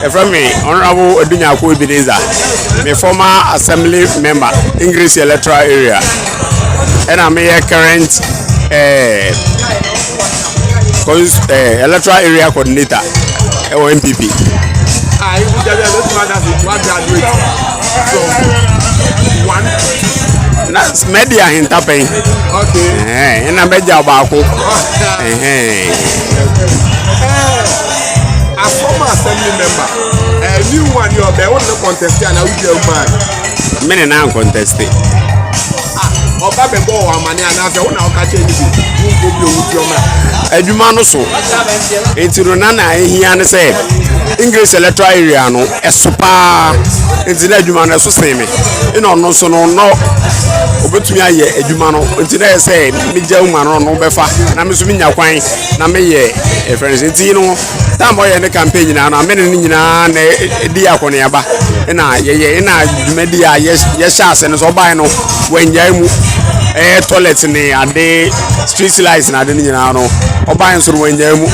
Yɛfrɛ me Honourable Odunyako Ebenezer. Me former assembly member, English electoral area. Ɛna meyɛ current eh, cons- eh, electoral area coordinator ɛwɔ NPP. Ah, you put that there, let's find out if one graduate from one. Na mɛdi ahentapɛn. Okay. Ɛhɛn, Ɛna mɛgya baako. Ɛhɛn. A former assembly member, a new one, your bell on the contest, and I would tell man. Men and I contest. ọba bẹ bọ ọwọ amani anaasẹ ọ na ọka kyẹ ẹni bi wọn kò bi owu fi ọmọ. adwuma no so nti no na na ehia ne sɛ english electoral area no ɛso paa nti na adwuma no ɛso sen me ɛna ɔno nso no no obetumi ayɛ adwuma no nti na yɛ sɛ megya uma no no bɛfa na me nso menya kwan na meyɛ ɛfrɛ no sɛ nti no tam ɔyɛ ne campaign nyinaa no amene no nyinaa na ɛdi akɔneaba ɛna yɛyɛ ɛna dwumadi a yɛhyɛ ase no sɛ ɔbae no wannyae mu ɛyɛ toilet ne ade street light na ade no nyinaa no ɔbae nso no wannyae mu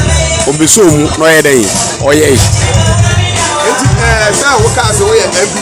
ɔbɛsoo mu na ɔyɛ dɛn ɔyɛe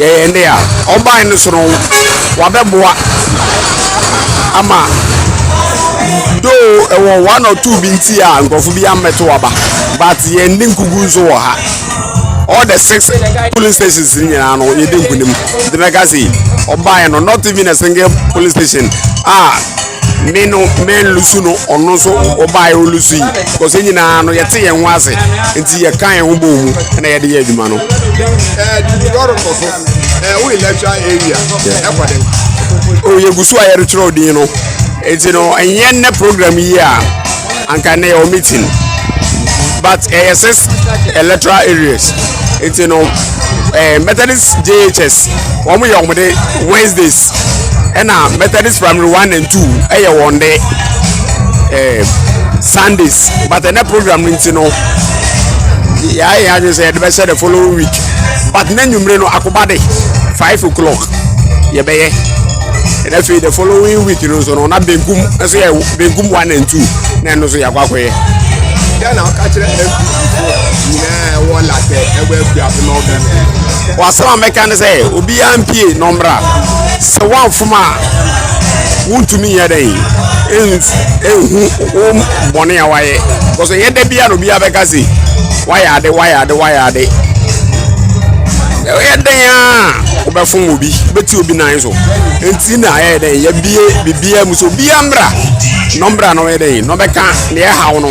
yɛyɛ ne a ɔban no so no wabɛboa ama doo ɛwɔ one or two bi nti a nkurɔfo bi ammɛto aba but yɛn de nkugu nso wɔ ha all the six polling stations nyinaa no yɛde nkunim de mɛka se ɔban no not even a single polling station a. Ah, me no mɛnlusu no ɔno nso ɔbaeɛ ɔlusu yi because nyinaa no yɛte yɛn ho ase nti yɛka yɛn ho bɔɔ mu na yɛde yɛ adwuma no yɛgu so a yɛretwerɛ din no nti no ɛnyɛ nnɛ program yi a anka nnɛ yɛwɔ meeting but ɛyɛ six electoral areas nti no methodist jhs wɔn yɛ wɔn de wednesdays ɛna methodist primary one and two ɛyɛ wɔn de ɛɛ sundays but ɛnɛ program no nti no yɛayɛ yɛn adwene sɛ yɛde bɛhyɛ the following week but n'anwummere no akoba de five o'clock yɛbɛyɛ ɛna afei the following week no nso no na benkum nso yɛ benkum one and two na ɛno nso yɛakɔ akɔyɛ. yɛn na ɔka kyerɛ mp nyinaa. wɔasɛm a mɛka ne sɛ obiara mpie na ɔmmra sɛ woamfom a wontumi nyɛ dɛn ɛnhu wo bɔne a wayɛ bcause ɛnyɛ da biara na obiara bɛka se wayɛ ade wayɛ ade wayɛ ade ɛyɛ dɛn a wobɛfom obi wobɛti obi nan so ɛnti na ɛyɛ dɛn yɛbie biribiara mu sɛ obiara mmra na ɔmmra na ɔyɛ dɛn na ɔbɛka deɛ ɛhaw no